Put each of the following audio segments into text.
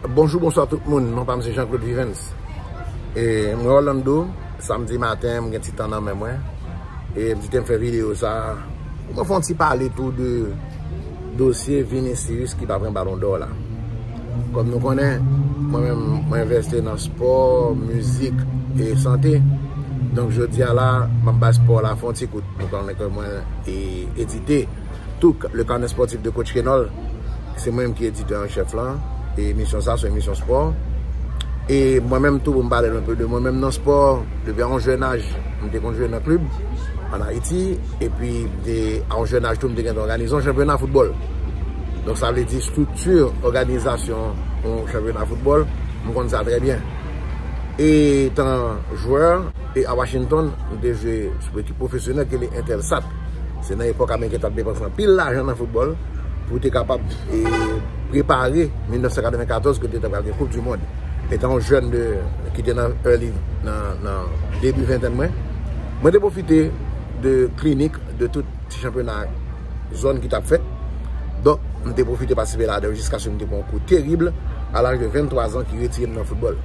Bonjou bonswa tout moun non pam se Jean Claude Vivens e mwen Orlando samdi maten mwen gen ti tan nan men mwen e m di tem fè video sa pou mwen fè yon ti pale tou de dosye Vinicius ki pa pran balon d'or la kòm nou konnen mwen menm mwen envèste nan spò mizik e sante donk jodia la map bay spò la fè yon ti kout nou konnen ke mwen edite. Touk, Le Carnet Sportif de Coach Kenol, se mwen menm ki editè an chèf lan, e emisyon sa son emisyon spò, e mwen menm tou pou m pale nou anpe de mwen menm nan spò, depi a yon jèn aj m te konn jwe nan klib an Ayiti, epi de a yon jèn aj tou m te gentan òganize yon chanpyona foutbòl, donk sa vle di estrikti òganizasyon yon chanpyona foutbòl m konn sa trè byen, etan jwè a Washington m te jwe sou ekip pwofesyonèl ki rele Intelsat. Se nan epòk Ameriken tap depanse anpil lajan nan foutbòl pou te kapab prepare 1994 kote ta pral gen koup di mond. Etan yon jèn de ki te nan early nan debi ventèn mwen, mwen te pwofite de klinik de tout ti chanpyona zòn ki tap fèt. Donk mwen te pwofite patisipe ladan yo jiskaske mwen te pran yon kou terib a laj de 23 zan ki retire m nan foutbòl.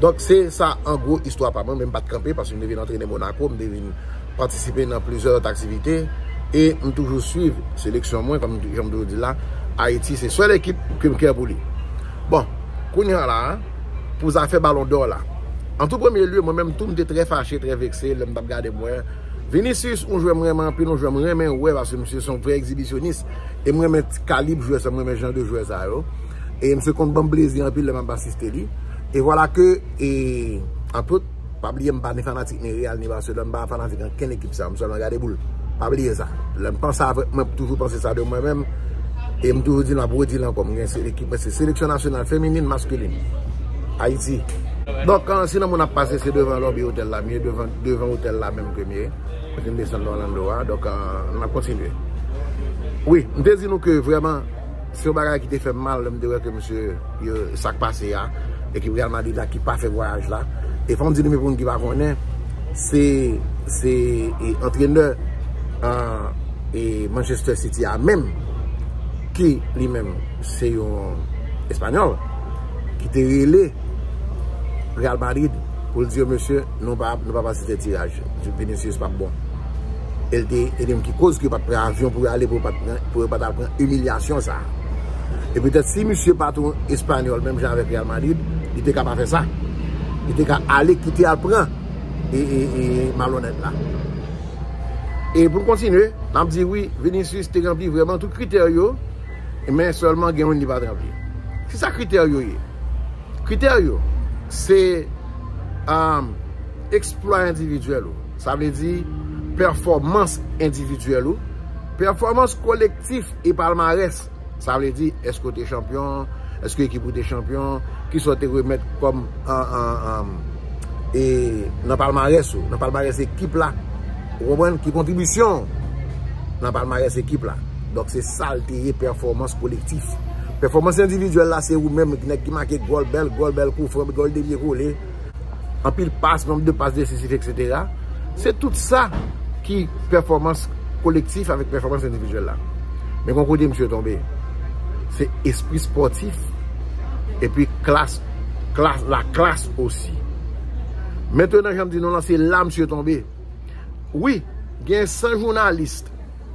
Donk se sa an gwo istwa pa mwen men m pat kanpe paske m te vin antrene Monaco, m te vin patisipe nan plizyè lòt aktivite e m toujou swiv seleksyon mwen kòm jan m toujou di la Ayiti se sèl ekip ke m kè pou li. Bon, kounye a la a, pou zafè balon dò la. An tou premye lye, mwen menm tou m te trè fache, trè vekse lè m t ap gade m wè Vinicius, yon jwè m renmen anpil, yon jwè m renmen wè paske misye se yon vrè egzibisyonis e m renmen kalib jwè sa, m renmen jan de jwè sa yo e misye konn ban m plezi anpil lè m ap asiste li e vwala ke e an tout Pa bliye m pa ni fanatik ni Real ni Barcelone, m pa fanatik ankenn ekip sa, m sèlman gade boul. Pa bliye sa. Lè m panse avèk mwen m toujou panse sa de mwen menm e m toujou di l m ap redi l ankò m gen se ekip mwen se seleksyon nasyonal feminin, maskulin Ayiti. Donk si nan moun ap pase se devan lòbi otèl la m ye, devan otèl la menm ke m ye kote m desann nan Orlando a. Donk n ap kontinye. Wi, m te di nou ke vrèman. Se yon bagay ki te fè m mal lè m te wè ke mesye yo sa k pase a, ekip Real Madrid la ki pa fè vwayaj la. E fò m di nou men pou moun ki pa konnen, se se antrenè Manchester City a menm ki li menm se yon espanyòl ki te rele Real Madrid pou l di yo mesye Nou pa nou pa pase se tiraj Vinicius pap bon el te ede m ki koz ke yo pat pran avyon pou yo ale pou yo pat pran pou yo pat al pran imilyasyon sa e petèt si misye pat yon espanyòl menm jan avèk Real Madrid li te ka pa fè sa li te ka ale kite al pran e e e malonèt la e pou n kontinye n ap di wi Vinicius te ranpli vrèman tout kritè yo men sèlman gen youn li pat ranpli ki sa kritè yo ye? Kritè yo se eksplwa endividyèl ou, sa vle di pèfòmans endividyèl ou, pèfòmans kolektif e palmarès, sa vle di èske ou te chanpyon, èske ekip ou te chanpyon, kisa ou te remèt kòm nan palmarès ou, nan palmarès ekip la, ou konprann, ki kontribisyon ou nan palmarès ekip la. Donk se sa l te ye pèfòmans kolektif. Pèfòmans endividyèl la se ou menm nèg ki make gòl, bèl gòl, bèl koufran, gòl devye kole, anpil pas, nonb de pas desisif eksetera. Se tout sa ki pèfòmans kolektif avèk pèfòmans endividyèl la. Men gon kote misye tonbe. Se espri spòtif epi klas, klas, la klas osi. Mentenan janm di nou lan se la misye tonbe. Wi, gen 100 jounalist.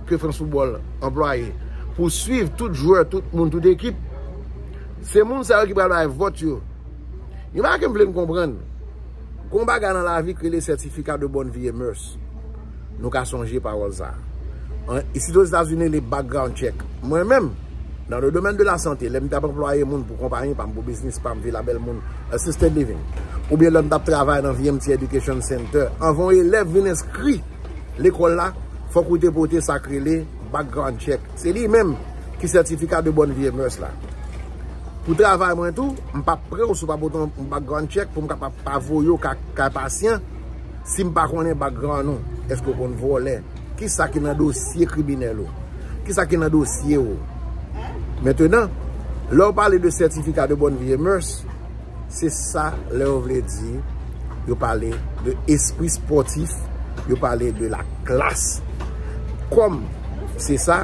ke France Football anplwaye pou swiv tout jwè, tout moun, tout ekip, se moun sa yo ki pral bay vòt yo. Yon bagay ke m vle nou konprann, gen yon bagay nan lavi ki rele certificat de bonne vie et mœurs. Nou ka sonje pawòl sa. Isit Ozetazini li background check. Mwen menm, nan le domaine de la santé, lè m tap anplwaye moun pou konpayi pa m, pou biznis pa m, Villa Belmond Assisted Living, oubyen lè m tap travay nan VMT Education Center, anvan yon elèv vin enskri, lekòl la, fòk ou te pote sa k rele background check. Se li menm ki sètifika de bòn vye mès la. Pou travay mwen tou, m pa pre w si w pa pote yon background check pou m kapab pa voye w kay pasyan si m pa konnen background ou. Èske ou konn vòlè? Ki sa ki nan dosye kriminèl ou? Ki sa ki nan dosye ou? Mentenan, lè w pale de sètifika de bòn vye mès, Se sa lè yo vle di, yo pale de espri spòtif, yo pale de la klas. Kòm se sa,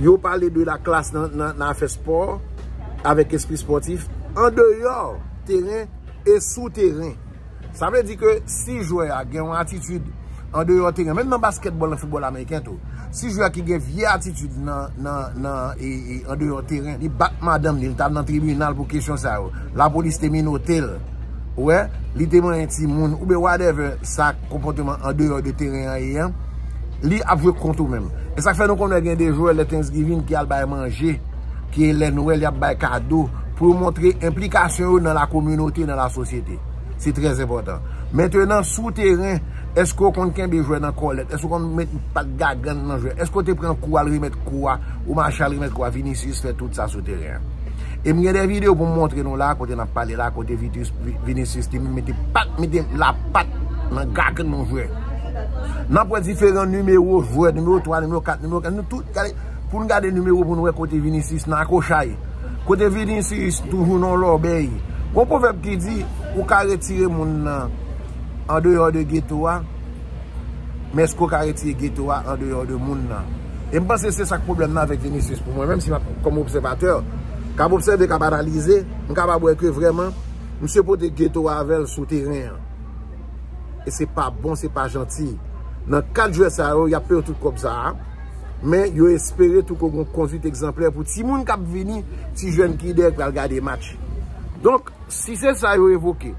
yo pale de la klas nan afè spò, avèk espri spòtif, an deyò teren e sou teren. Sa vle di ke si jwè a gen yon atitid an deyò teren, menm nan baskètbòl, nan foutbòl ameriken tou, si jwè a ki gen vye atitid an deyò teren, li bat madanm li, li t al nan tribinal pou kesyon sa yo, lapolis te minote l, ou wè, li te manyen timoun, ou byen whatever sa konpòteman an deyò de teren an ye an, li ap jwe kont ou menm. E sa k fè nou konnen gen de jwè lè Thanksgiving ki al bay manje, ki lè Nwèl y ap bay kado, pou yo montre enplikasyon yo nan la kominote, nan la sosyete. Se trè enpòtan. Mentenan, sou teren, èske ou konn kenbe jwè nan kòlèt? Èske ou konn met pat gagann nan jwè? Èske ou te pran kou al remèt kou a? Ou mache al remèt kou a? Vinicius fè tout sa sou teren an. E m gen de videyo pou m montre nou la a kote n ap pale la a kote Vinicius li menm mete pat, mete lapat nan gagann yon jwè. N ap wè diferan nimewo jwè, nimewo 3, nimewo 4, nimewo 5, nou tout gade. Poun gade nimero poun wè kote Vinicius nan akochay. Kote Vinicius toujou nan lòbèy. Gon pwovèb ki di ou ka retire moun nan andeyò de geto a, men eske ou ka retire geto a andeyò de moun nan. E m panse se sak pwoblèm nan avèk Vinicius pou mwen menm si map kòm obsèvatè kap obsève kap analize, m kapab wè ke vrèman misye pote geto a avèl sou teren an. E se pa bon se pa janti. Nan 4 jwè sa yo yap peye tout kòb sa a. Men, yo espere tou ko gon konduit egzanplè pou timoun k ap vini, ti jèn ki dèyè k pral gade match. Donk, si se sa yo evoke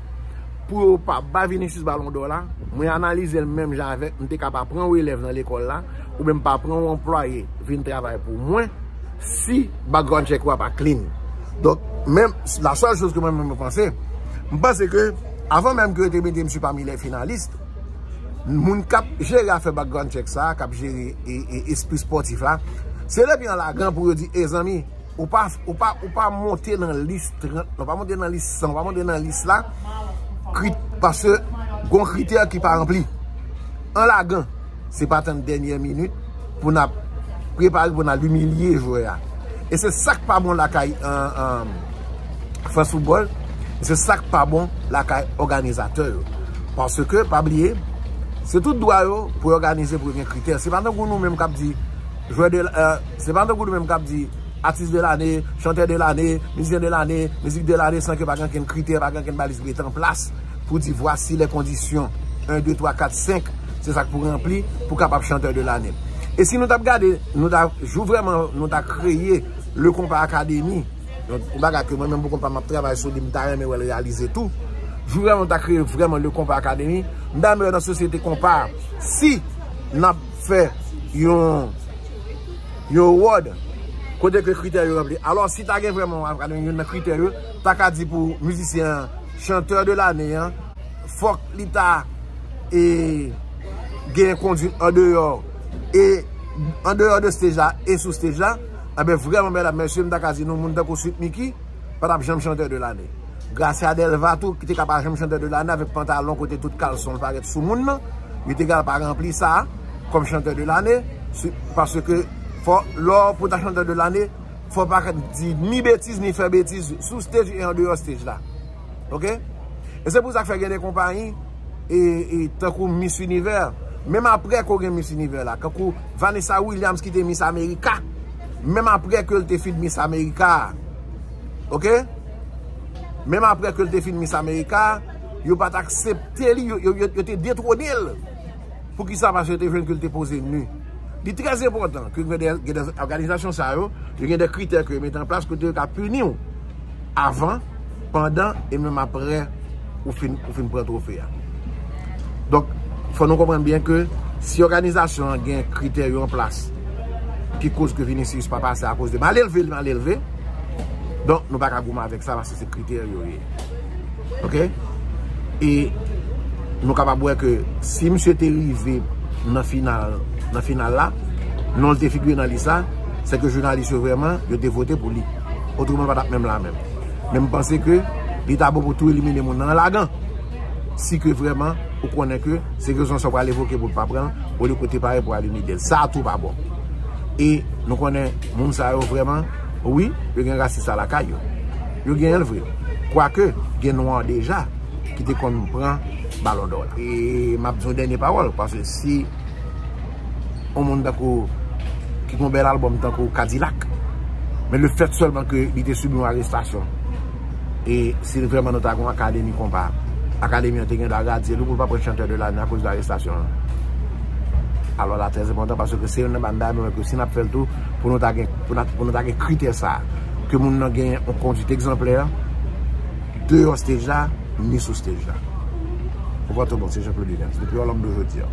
pou yo pa ba Vinicius balon dò la, mwen analize l menm jan avèk m te ka pa pran w elèv nan lekòl la oubyen m pa pran w anplwaye vin travay pou mwen si background check ou a pa clean. Donk, men, la sèl choz ke mwen menm mwen panse, m panse ke avan menm ke yo te mete misye pami les finalistes, moun k ap jere afè background check sa, k ap jere espri spòtif la, se depi an lagan pou yo di, e zanmi, ou pa monte nan lis 30, ou pa monte nan lis 100, ou pa monte nan lis la, paske gon kritè ki pa ranpli. An lagan, se pa tann dènyè minit. pou n ap prepare pou n al imilye jwè a. E se sa k pa bon lakay France Football, e se sa k pa bon lakay òganizatè yo. Paske, pa bliye, se tout dwa yo pou yo òganize pou yo gen kritè. Se pa tankou nou menm k ap di, jwè de, se pa tankou nou menm k ap di, atis de lane, chantè de lane, mizisyen de lane, mizik de lane san ke pa gen ankenn kritè, pa gen ankenn baliz mete an plas. pou di vwasi lè kondisyon 1, 2, 3, 4, 5, se sa k pou ranpli pou kapab chanteur de l'année. E si nou t ap gade, nou ta, jou vrèman nou ta kreye Le Compas Academy, yon bagay ke mwen menm pou kont pa m ap travay sou li, m ta renmen wè l reyalize tou, jou vrèman nou ta kreye vrèman Le Compas Academy, m ta renmen wè nan sosyete konpa a, si n ap fè yon, yon award, kote ke kritè yo ranpli. Alò, si ta gen vrèman yon akademi, youn nan kritè yo, ta ka di pou mizisyen an. Chanteur de l'année an fòk li ta e gen konduit an deyò e an deyò de stage la e sou stage la anben vrèman medam mesye m ta ka di nou moun tankou Sweet Micky pa tap janm chanteur de l'année Gracia Delva tou ki te ka pa janm chanteur de l'année avèk pantalon kote tout kalson l parèt sou moun nan li te ka pa ranpli sa kòm chanteur de l'année paske fò lò pou ta chanteur de l'année. fò w pa ka di ni betiz ni fè betiz sou stage e andeyò stage la. Ok? E se pou sa k fè gen de konpayi e tankou Miss Univers, menm apre ke w gen Miss Univers la, tankou Vanessa Williams ki te Miss America, menm apre ke l te fin Miss America a, ok? Menm apre ke l te fin Miss America a, yo pa t aksepte li, yo te detwone l. Poukisa? Paske yo te jwenn ke li te poze nu. Li trè enpòtan ke gen de òganizasyon sa yo, yo gen de kritè ke yo mete an plas kote yo ka pini w avan, pandan e menm aprè ou fin pran twofe a. Donk, fò nou konprann byen ke si òganizasyon an gen kritè yo an plas ki koz ke Vinicius pa pase akoz de mal elve li mal elve, donk nou pa ka goumen avèk sa. Se kritè yo ye. Ok? E nou kapab wè ke si misye te rive nan final, nan final la, non l te figure nan lis la, se ke jounalis yo vreman, yo te vote pou li. Otreman l pa t ap menm la menm. Men m panse ke li ta bon pou tou elimine moun nan an lagan. Si ke vreman ou konnen ke se rezon sa w pral evoke pou w pa pran l, olye ke w te pare pou w al imite l. Sa tou pa bon. E nou konnen moun sa yo vreman. Wi, yo gen rasis la lakay yo. Yo genyen l vre. Kwake, gen nwa deja ki te konn pran balon dò la. E m ap di yon dènye pawòl, pase si yon moun tankou ki gen yon bèl albòm tankou Kadilak, men le fèt sèlman ke li te sibi yon arestasyon, e si l vrèman nou ta gen yon akademi konpa, akademi an te gen dwa radye li pou l pa pran chantè de lane akoz de arestasyon l. Alò la trèzenpòtan pase ke se youn nan bann bagay mwen wè ke si n ap fè l tou, pou nou ta gen pou nou ta gen kritè sa a ke moun nan gen yon kondwit egzanplè deyò stage la ni sou stage la ou pran tou bon se Jean Claude Williams depi yon lòm do jodi an.